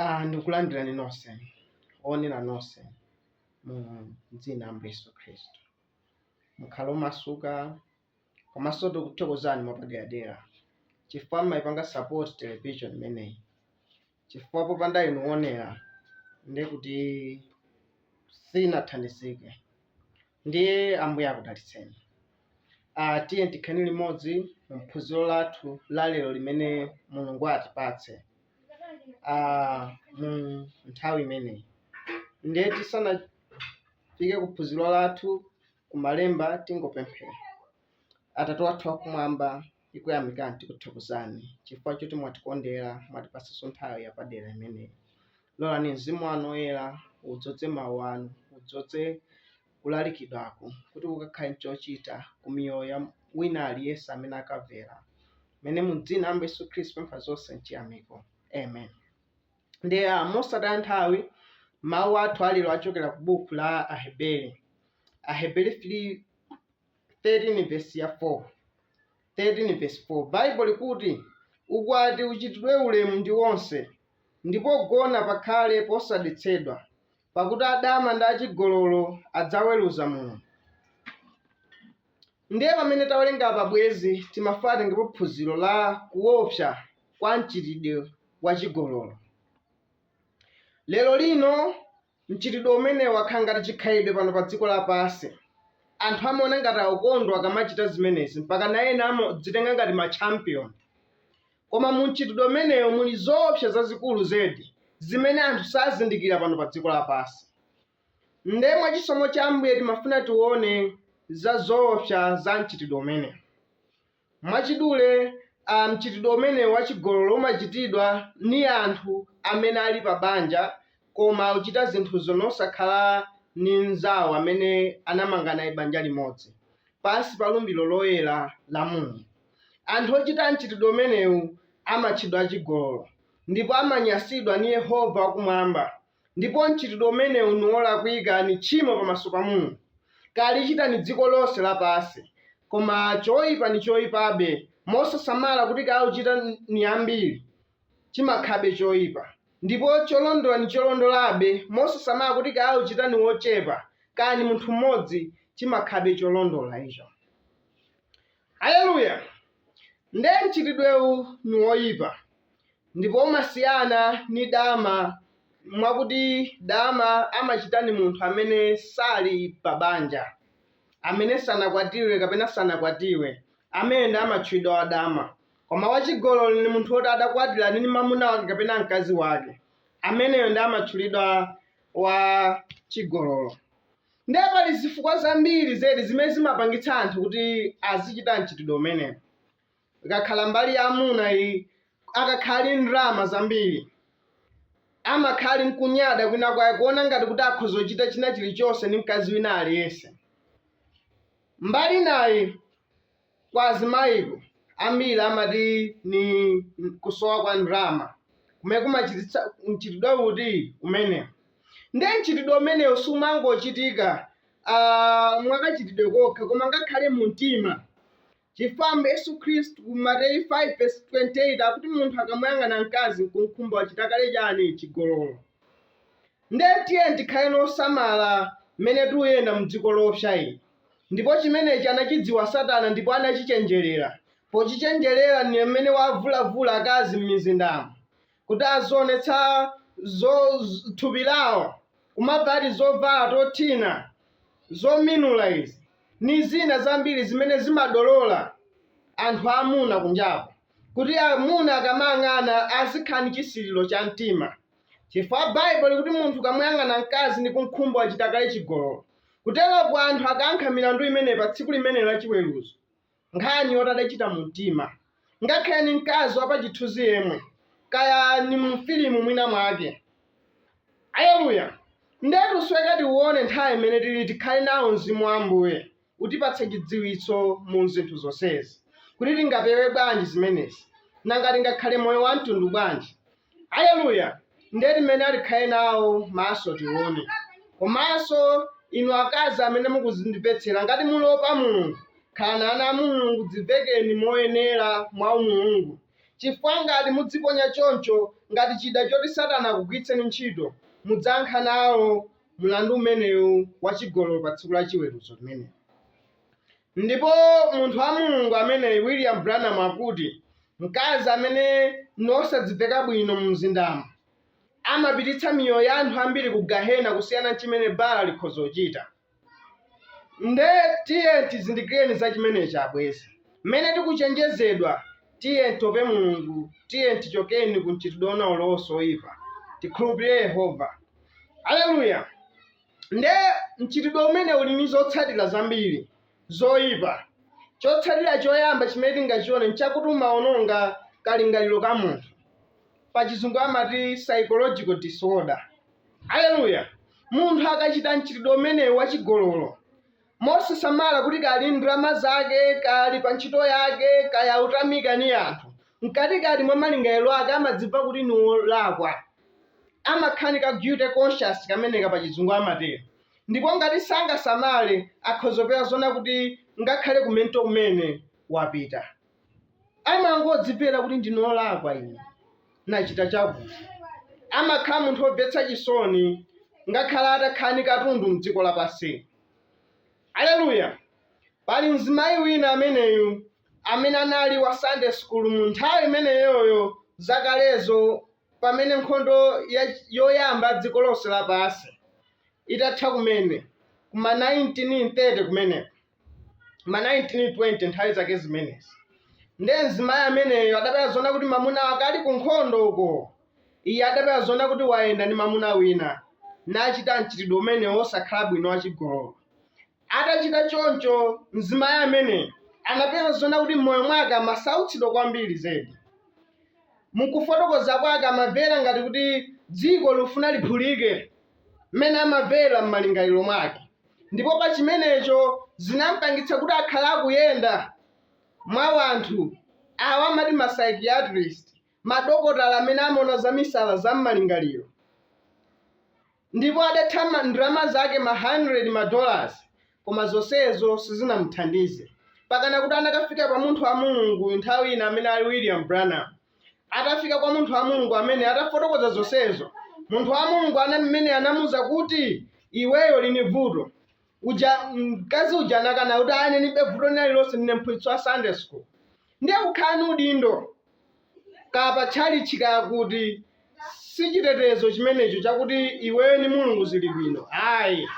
Ah, ndikulandirani nonse oonera nonse mu dzina la Ambuye Yesu Khristu. Mukhale omasuka komanso tikuthokozani mwapaderadera chifukwa mumayipanga support television imeneyi. chifukwa popanda inu oonera ndiye kuti sinathandizike ndiye ambuye akudalitseni uh, tiyeni tikhale limodzi mumphunziro lathu la lero limene mulungu atipatse uh, mu nthawi imeneyi ndiye tisanafike kuphunziro lathu kumalemba tingopemphera atate wathu wakumwamba tikuyamikani tikuthokozani chifukwa choti mwatikondera mwatipatsanso nthawi yapadera imeneyi lolani mzimu wanu oyera udzodze mawu anu udzodze kulalikidwaku kuti kukakhale nchochita ku miyoyo ya wina aliyense amene akamvera umene mu dzina la ambuye yesu khristu tapempha zonse mchiyamiko amen ndiye uh, mosataya nthawi mawu athu alero achokera ku buku la aheberi aheberi 3 13 vesi ya 4 13 vesi 4 baibo likuti ukwati uchitidwe ulemu ndi onse ndi pogona pakhale posadetsedwa pakuti adama ndi achigololo adzaweruza mulungu ndiye pamene tawerenga apa bwezi timafuna tione phunziro la kuopsa kwa mchitidwe wa chigololo lero lino Mchitidwe umenewu wakhala ngati chikhalidwe pano pa dziko lapansi. Anthu amaona ngati akukondwa akamachita zimenezi, mpakana ena amadzitenga ngati ma champion. Koma mu mchitidwe umenewu muli zoopsa zazikulu zedi zimene anthu sazindikira pano pa dziko lapansi. Nde mwa chisomo cha Ambuye timafuna tione za zoopsa za mchitidwe umenewu. Mwachidule, a, mchitidwe umenewu wa chigololo umachitidwa ni anthu amene ali pa banja koma akuchita zinthuzo nosakhala ni mnzawo amene anamanga naye banja limodzi pansi pa lumbilo loyela la Mulungu. Anthu ochita mchitidwe umenewu amatchedwa achigololo, ndipo amanyansidwa ni Yehova wakumwamba. Ndipo mchitidwe umenewu niwolakwika ni tchimo pamaso pa Mulungu. Kaya likuchita ni dziko lonse lapansi. Koma choipa ni choipabe mosasamala kuti kaya ochita ni ambiri chimakhalabe choipa. Ndipo cholondola ni cholondolabe mosasamala kuti kaya ochita ni wochepa kaya ni munthu mmodzi chimakhalabe cholondola icho. Aleluya! Nde mchitidwewu ni woyipa ndipo umasiyana ni dama mwakuti dama amachita ni munthu amene sali pa banja, amene sanakwatiwe kapena sanakwatiwe, ameneyo nde amatchulidwa wa dama. Koma wa chigololo ni munthu woti adakwatira ali ni mamuna wake kapena mkazi wake, ameneyo nde amatchulidwa wa chigololo. Ndiye pali zifukwa zambiri zedi zimene zimapangitsa anthu kuti azichita mchitidwe umenewu. Ikakhala mbali ya amuna iyi, akakhala ali ndalama zambiri, amakhala ali n'kunyada kwinakwake, kuona ngati kuti akhoza kuchita china chilichonse ndi mkazi wina aliyense. Mbali inayi, Kwa azimayiko, ambiri amati ni kusowa kwa ndalama kumene kumachititsa mchitidwe uti umenewu. Ndiye mchitidwe umenewu sumangochitika mwakachitidwe kokha, koma ngakhale mu mtima, chifukwa Ambuye Yesu Khristu ku Mateyu 5 verse 28 akuti munthu akamuyang'ana mkazi n'kum'khumba wachita kale chiyani? Chigololo. Nde tiyeni tikhale nosamala mmene tuyenda mu dziko loopsa ili, ndipo chimenechi anachidziwa Satana ndipo anachichenjerera, pochichenjerera ndi mmene wavulavula akazi mmizindamo, kuti azionetsa zo, thupi lawo, kumavala tizovala tothina, zominula izi, ndi zina zambiri zimene zimadolola anthu amuna kunjako, kuti amuna akamayang'ana azikhala ndi chisiriro cha mtima. Chifukwa Baibulo likuti munthu akamuyang'ana mkazi ndi kumkhumba wachita kale chigololo. Kuteroko anthu akayankha milandu imeneyi pa tsiku limenelo la chiweruzo. Nkhani yoti adachita mu mtima. Ngakhale ni mkazi wa pa chithunzi yemwe. Kaya ni mu filimu mwina mwake. Aleluya! Nde tusoweka tione nthawi imene tili tikhale nawo Mzimu wa Ambuye. utipatse chidziwitso mu zinthu zonsezi, kuti tingapewe bwanji zimenezi, nanga tingakhale moyo wa mtundu bwanji. Aleluya! Ndiye timene atikhale nawo maso tione. Komanso inu akazi amene mukuzindipetsera, ngati mulopa Mulungu, khalani ngati ana a Mulungu, dzivekeni moyenera mwa umulungu, chifukwa ngati mudziponya choncho ngati chida choti Satana akugwiritseni ntchito, mudzayankha nawo mlandu umenewu wa chigololo pa Tsiku la Chiweruzo limenelo. Ndipo munthu wa Mulungu ameneyu, William Branham, akuti, Mkazi amene ndi osaziveka bwino mu mzindamo, amapititsa miyoyo ya anthu ambiri ku gahena kusiyana ndi chimene bala likhoza kuchita. Nde tiyeni tizindikireni za chimenechi, abwenzi. Mmene tikuchenjezedwa, tiyeni tiope Mulungu, tiyeni tichokeni ku mchitidwe wina ulionse woyipa, tikhulupire Yehova. aleluya nde mchitidwe umene uli ni zotsatira zambiri zoyipa chotsatira choyamba chimene tingachione nchakuti umawononga kalingaliro ka munthu pachizungu amati psychological disorder aleluya munthu akachita mchitidwe umenewu wachigololo Mosasamala kuti kaya ali ndi ndalama zake, kaya ali panchito yake, kaya autamika ni anthu, mkati-kati mwa malingalilo ake amadzimva kuti ni wolakwa. Amakhala ni ka guilty conscience kameneka pa Cizungu amatelo. Ndipo ngati sangasamale, akhoza kupewa zoona kuti ngakhale ku mento kumene wapita. Amangodzimvela kuti ndine wolakwa ine, nacita cakuti. Amakhala munthu womvetsa cisoni ngakhale atakhala ni katundu m'dziko lapansili. Aleluya! Pali mzimayi wina ameneyu amene anali wa Sunday school mu nthawi imeneyoyo zakalezo pamene nkhondo yoyamba dziko lonse lapansi itatha kumene kuma 1930 kumeneko ma 1920 nthawi zake zimenezi nde mzimayi ameneyo adapeza zona kuti mamuna wake ali ku nkhondo uko Iye adapeza zoona kuti wayenda ndi mamuna wina nachita mchitidwe umene wosakhala bwino wa chigololo. Atachita choncho, mzimayi amene anapeza zoona kuti m'moyo mwake amasautsidwa kwambiri zedi. M'kufotokoza kwake amamvera ngati kuti dziko likufuna liphulike m'mene amamvera m'malingaliro mwake ndipo pa chimenecho zinampangitsa kuti akhale akuyenda mwa wanthu, awa amati ma psychiatrists. madokotala amene amaona za misala za mmalingaliro ndipo adatha ma- ndalama zake ma 100 ma dollars koma zonsezo sizinamuthandize pakana kuti anakafika kwa munthu wa mulungu nthawi ina amene ali william branham atafika kwa munthu wa mulungu amene atafotokoza zonsezo munthu wa mulungu ana mmene anamuza kuti iweyo uli ni vuto uja mkazi uja anakana kuti ayi ine ndilibe vuto lina lililonse ndine mphunzitsi wa sunday school ndiye kukhala ni udindo kaya pa tchalitchi kaya kuti si chitetezo chimenecho chakuti iweyo ni mulungu zili bwino ayi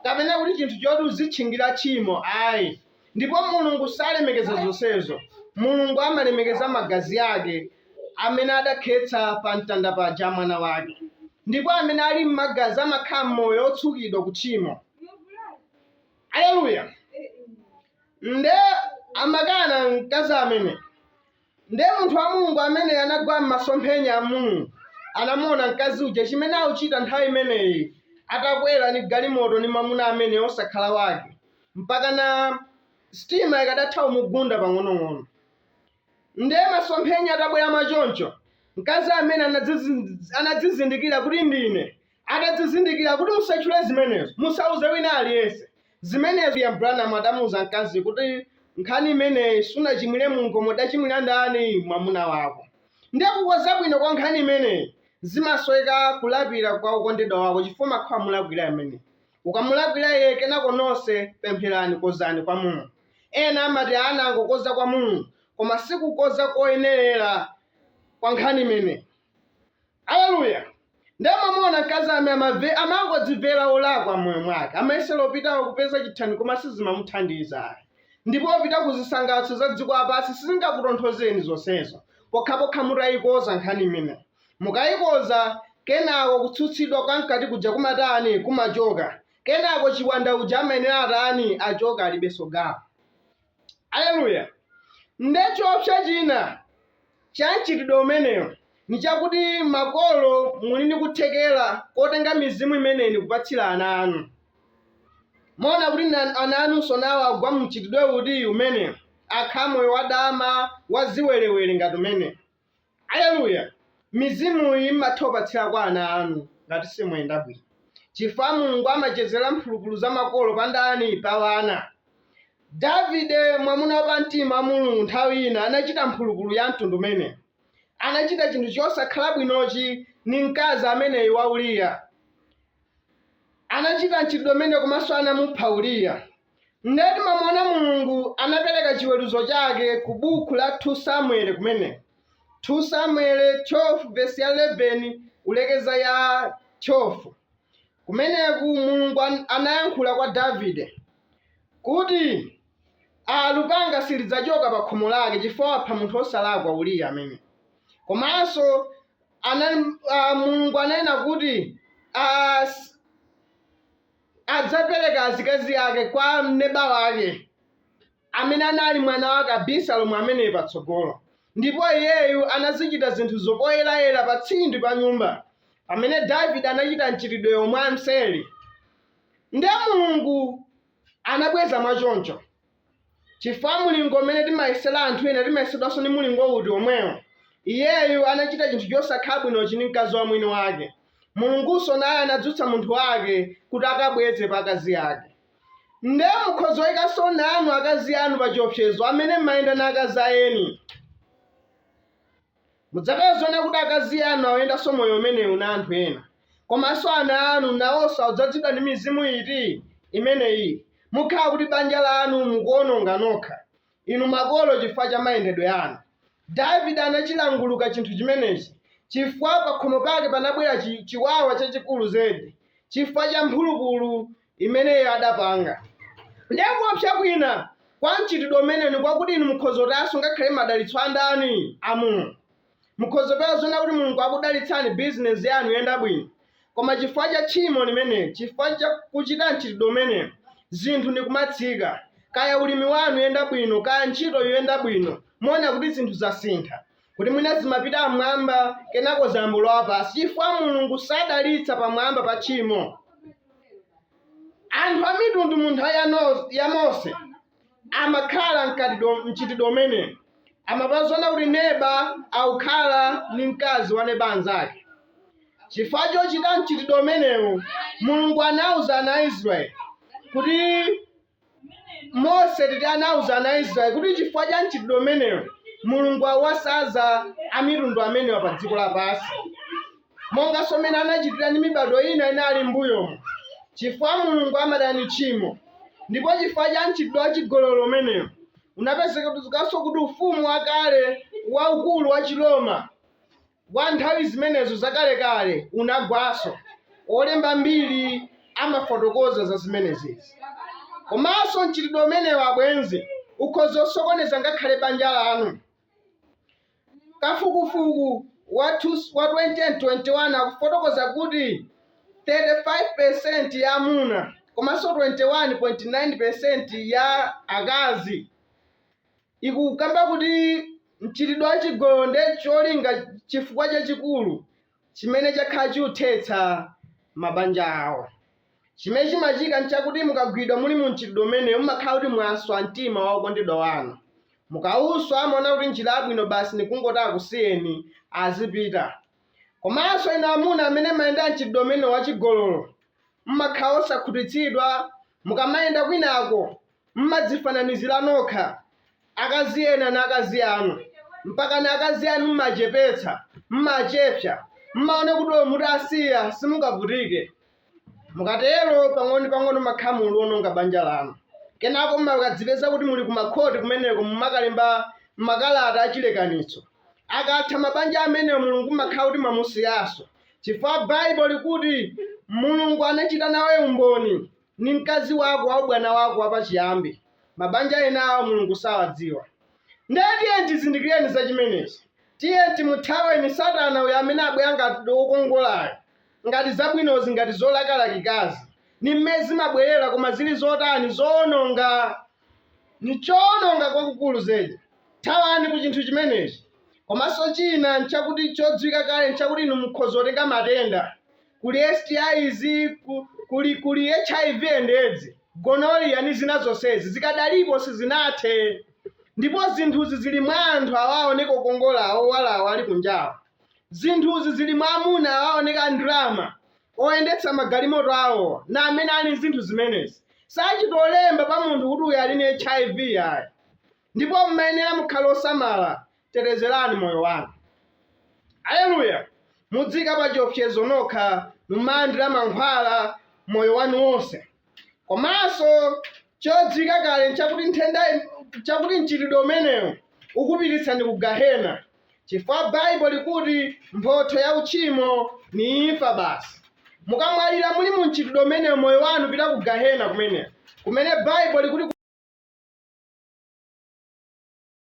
kapena kuti chinthu choti uzitchingira tchimo ayi ndipo mulungu salemekeza zonsezo mulungu amalemekeza magazi ake amene adakhetsa pa mtanda paja mwana wake ndipo amene ali m'magazi amakhala moyo otsukidwa ku tchimo aleluya nde amakana mkazi amene Ndiye munthu wa Mulungu ameneyo anagwa mmasomphenya a Mulungu, anamuwona mkazi uja, chimene akuchita nthawi imeneyi, atakwera ni galimoto ni mamuna ameneyo wosakhala wake, mpakana sitima ikadatha kumugunda pang'onong'ono. Ndiye masomphenya atabwera mwa choncho, mkazi amene anadzizindikira kuti ndine, Atadzizindikira kuti musachule zimenezo, musauze wina aliyense zimenezo. William Branham adamuuza mkazi kuti, Nkhani imeneyi sunachimwire Mulungu koma udachimwira ndani? Mwamuna wako. Ndiye kukonza bwino kwa nkhani imeneyi zimasoweka kulapira kwa wokondedwa wako chifukwa umakhala wamulakwira ameneyo. Ukamulakwira iye kenako nonse pempherani, kozani kwa Mulungu. Ena amati anangokonza kwa Mulungu koma si kukonza koyenerera kwa nkhani imeneyi. Aleluya! Ndiye mamuona mkazi amene amamve, amangodzimvera wolakwa m'moyo mwake, amayesera opita kupeza chithandizo koma sizimamuthandiza ayi. Ndipo opita ku zisangalatso za dziko lapansi sizingakutonthozeni zonsezo, pokhapokha mutaikonza nkhani imeneyo. Mukaikonza, kenako kutsutsidwa kwa mkati kuja kumatani? Kumachoka. Kenako chiwanda uja amayenera atani? Achoka, alibenso gawo. Aleluya! Nde choopsa china cha mchitidwe umenewu ni chakuti makolo muli ni kuthekela kotenga mizimu imeneyi ni kupatsila ana anu. Muona kuti ana anunso nawo agwa mu mchitidwe uti? Umenewu. Akhala moyo wadama, wa ziwelewele ngati umenewu. Aleluya! Mizimuyi m'mathopatsira kwa ana anu ngati simuyenda bwino chifukwa Mulungu amachezera mphulupulu za makolo pa ndani? Pa wana. Davide, mwamuna wa pamtima wa Mulungu nthawi ina anachita mphulupulu ya mtundu umenewu. Anachita chinthu chosakhala bwinochi ni mkazi ameneyu wa Uriya. Anachita mchitidwe umenewu komanso anamupha Uriya. Nde timamuona Mulungu anapeleka chiweruzo chake ku bukhu la 2 Samueli kumeneko, 2 Samueli 12 vesi ya 11 kulekeza ya 12. Kumeneku Mulungu an anayankhula kwa Davide kuti a lupanga silidzachoka pa khomo lake chifukwa wapha munthu wosalakwa Uriya ameneyu. Komanso anali a Mulungu ananena kuti a adzapereka azikazi ake kwa mneba wake, amene anali mwana wake Abisalomu ameneyo patsogolo. Ndipo iyeyu anazichita zinthuzo poyerayera pa tsindi pa nyumba, pamene Davide anachita mchitidwewo mwamseri. Nde Mulungu anabweza mwachoncho. Chifukwa mulingo umene timayesera anthu ena timayesedwanso ni mulingo uti omwewo. Iyeyu anachita chinthu chosakhala bwinochi ni mkazi wa mwini wake. Mulungunso naye anadzutsa munthu wake kuti akabweze pa akazi ake. Nde mukhoza oikanso nanu akazi anu pa chiopsezo amene m'mayenda na akazi a eni. Mudzapezaona kuti akazi anu auyendanso moyo umenewu na anthu ena. Komanso ana anu nawonso audzadzidwa ndi mizimu iti? Imeneyi. Mukhala kuti banja lanu mukuwononga nokha, inu makolo chifukwa cha mayendedwe anu. Davide anachilanguluka chinthu chimenechi chifukwa pakhomo pake panabwera chiwawa chachikulu zedi chifukwa cha mphulupulu imeneyo adapanga. Ndiye kuopsa kwina kwa mchitidwe umenewu ni kwakuti inu mukhoza kutayanso ngakhale madalitso a ndani? A Mulungu. Mukhoza kupezaona kuti Mulungu akudalitsani, bizinesi yanu iyenda bwino, koma chifukwa cha tchimo limeneli, chifukwa cha kuchita mchitidwe umenewu, zinthu ni kumatsika. Kaya ulimi wanu uyenda bwino, kaya ntchito ikuyenda bwino, muona kuti zinthu zasintha. kuti mwina zimapita pamwamba kenako zayamba kulowa pansi chifukwa mulungu sadalitsa pamwamba pa tchimo anthu amitundu mu nthawi ya mose amakhala mu mchitidwe umenewu amapezaona kuti neba akukhala ndi mkazi wa neba anzake chifukwa chochita mchitidwe umenewu mulungu anauza ana a israeli kuti Mose titi anauza ana a Israel kuti chifukwa cha mchitidwe umenewu Mulungu awasaza amitundu amenewa pa dziko lapansi monganso mmene anachitira ndi mibado ina inali m'mbuyomo chifukwa Mulungu amadana ndi tchimo ndipo chifukwa cha mchitidwe wa chigololo umenewu unapezekanso kuti ufumu wakale waukulu wa Chiroma wa nthawi zimenezo zakalekale unagwanso. Olemba mbiri amafotokoza za zimenezezi. Komanso mchitidwe umenewu abwenzi, ukhoza kusokoneza ngakhale banja lanu. Kafukufuku wa 2021 akufotokoza kuti 35% ya amuna komanso 21.9% ya akazi ikukamba kuti mchitidwe wa chigololo nde cholinga chifukwa chachikulu chimene chakhala chiuthetsa mabanja awo chimene chimachitika nchakuti mukagwidwa muli mu mchitidwe umenewu mumakhala kuti mwaswa mtima wa okondedwa wanu mukawuswa amaona kuti njira yabwino basi nikungoti akusiyeni azipita komanso inu amuna amene mmayenda mchitidwe umenewu wachigololo mmakhala osakhutitsidwa mukamayenda kwinako M'madzifananizira nokha, akazi ena na akazi anu, mpakana akazi anu m'machepetsa, m'machepsa, m'maona kuti olo mutasiya simungavutike. Mukatero, pang'ono-pang'ono m'makhala mukuliononga banja lanu. Kenako m'makadzipeza kuti muli kumakhoti kumeneko mumakalemba makalata achilekanitso. Akatha mabanja amenewo Mulungu m'makhala kuti mwamusiyanso, chifukwa Baibulo likuti Mulungu anachita nawe umboni Ni mkazi wako wa ubwana wako wapaciyambi. Mabanja enawo Mulungu sawadziwa. Ndiye tiyeni tizindikile za cimeneci. Tiyeni timuthaweni Satana uyu amene abwela ngati wokongolayu, ngati zabwinozi, ngati zolakalakikazi. Ni mmene zimabwelela, koma zili zotani? Zowononga! Ni cowononga kwakukulu zedi. Thawani ku cinthu cimeneci. Komanso cina n'cakuti codziwika kale n'cakuti inu mukhoza kutenga matenda. Kuli STIs, ku, kuli, kuli HIV and Edzi, Gonorrhea ni zina zonsezi, zikadalipo sizinathe. Ndipo zinthuzi zili mwa anthu awa aoneka okongola awa owala awa ali kunjawa. Zinthuzi zili mwa amuna awa aoneka a ndrama, oyendetsa magalimoto awowa, na amene ali nzinthu zimenezi. Sachita kulemba pa munthu kuti uyu ali ni HIV ayi. Ndipo mumayenera mukhale osamala, tetezerani moyo wanu. Aleluya! Mudziika pa chiopsezo nokha, muzilandira mankhwala moyo wanu wonse. Komanso chodziwika kale n'chakuti nthenda, n'chakuti mchitidwe umenewu ukupititsani ku Gahena. chifukwa baibulo likuti mphotho ya uchimo ni imfa basi mukamwalira muli mu mchitidwe umenewu moyo wanu upita ku gahena kumene kumene baibulo likuti